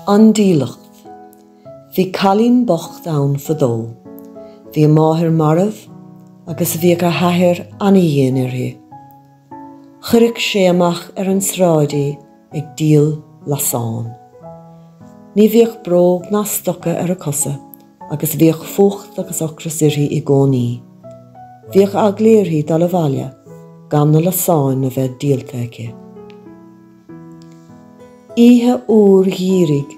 An dílleacht. Bhí cailín bocht ann fadó. Bhí a máthair marbh agus bhíodh a hathair ana-dhian uirthi. Chuireadh sé amach ar an sráid í ag díol lasán. Ní bhíodh bróg ná stoca ar a cosa agus bhíodh fuacht agus ocras uirthi i gcónaí. Bhíodh eagla uirthi dul abhaile gan na lasáin a bheith díolta aici. Oíche fhuar gheimhridh,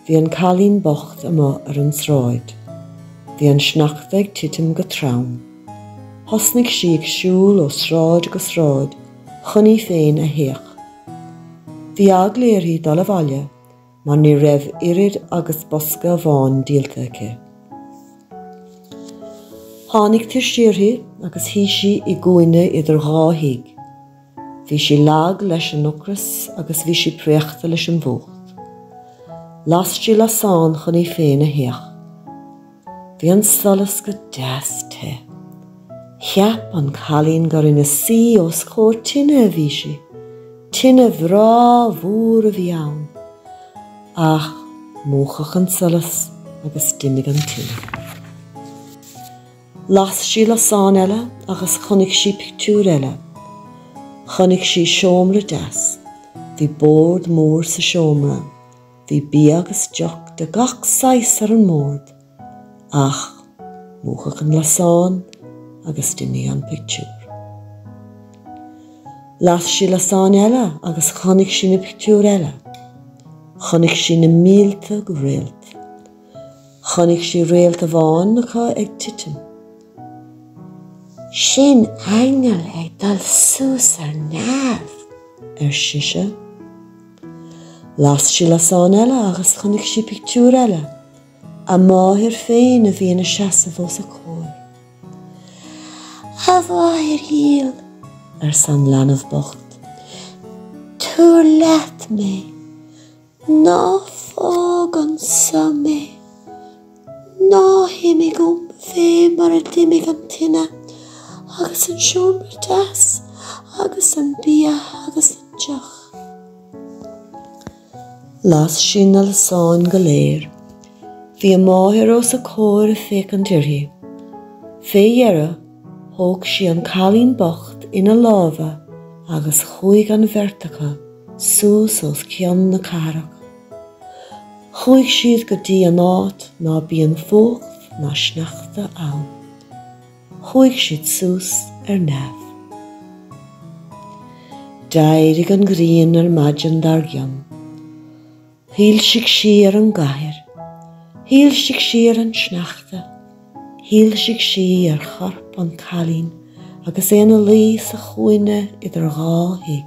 bhí an cailín bocht amuigh ar an tsráid. Bhí an sneachta ag titim go trom. Thosnaigh sí ag siúl ó sráid go sráid chun í féin a théamh. Bhí eagla uirthi dul abhaile mar ní raibh oiread agus bosca amháin díolta aici. Tháinig tuirse uirthi agus shuigh sí i gcúinne idir dhá thigh. Bhí sí lag leis an ocras agus bhí sí préachta leis an bhfuacht. Las sí lasán chun í féin a théamh. Bhí an solas go deas te. Cheap an cailín gur ina suí os comhair tine a bhí sí. Tine bhreá mhór a bhí ann. Ach múchadh an solas agus d'imigh an tine. Las sí lasán eile agus chonaic sí pictiúr eile. Chonaic sí seomra deas. Bhí bord mór sa seomra. Bhí bia agus deoch de gach saghas ar an mbord ach múchadh an lasán agus d'imigh an pictiúr. Las sí lasán eile agus chonaic sí pictiúr eile. Chonaic sí na mílte réalt. Chonaic sí réalt amháin acu ag titim. Sin aingeal ag dul suas ar neamh, arsa sise. Las sí lasán eile agus chonaic sí pictiúr eile, a máthair féin a bhí ina seasamh os a comhair. A mháthair dhil, arsa an leanbh bocht, tabhair leat mé, ná fág anseo mé. Ná himigh uaim fé mar a d'imigh an tine agus an seomra deas agus an bia agus an deoch. Las sí na lasáin go léir. Bhí a máthair os a comhair ag féachaint uirthi. Fé dheireadh thóg sí an cailín bocht ina lámha agus chuaigh an bheirt acu suas os cionn na cathrach. Chuaigh siad go dtí an áit ná bíonn fuacht ná sneachta ann. Chuaigh siad suas ar neamh. D'éirigh an ghrian ar maidin dar gcionn. Shoilsigh sí ar an gcathair. Shoilsigh sí ar an sneachta. Shoilsigh sí ar chorp an cailín agus é ina luí sa chúinne idir dhá thigh.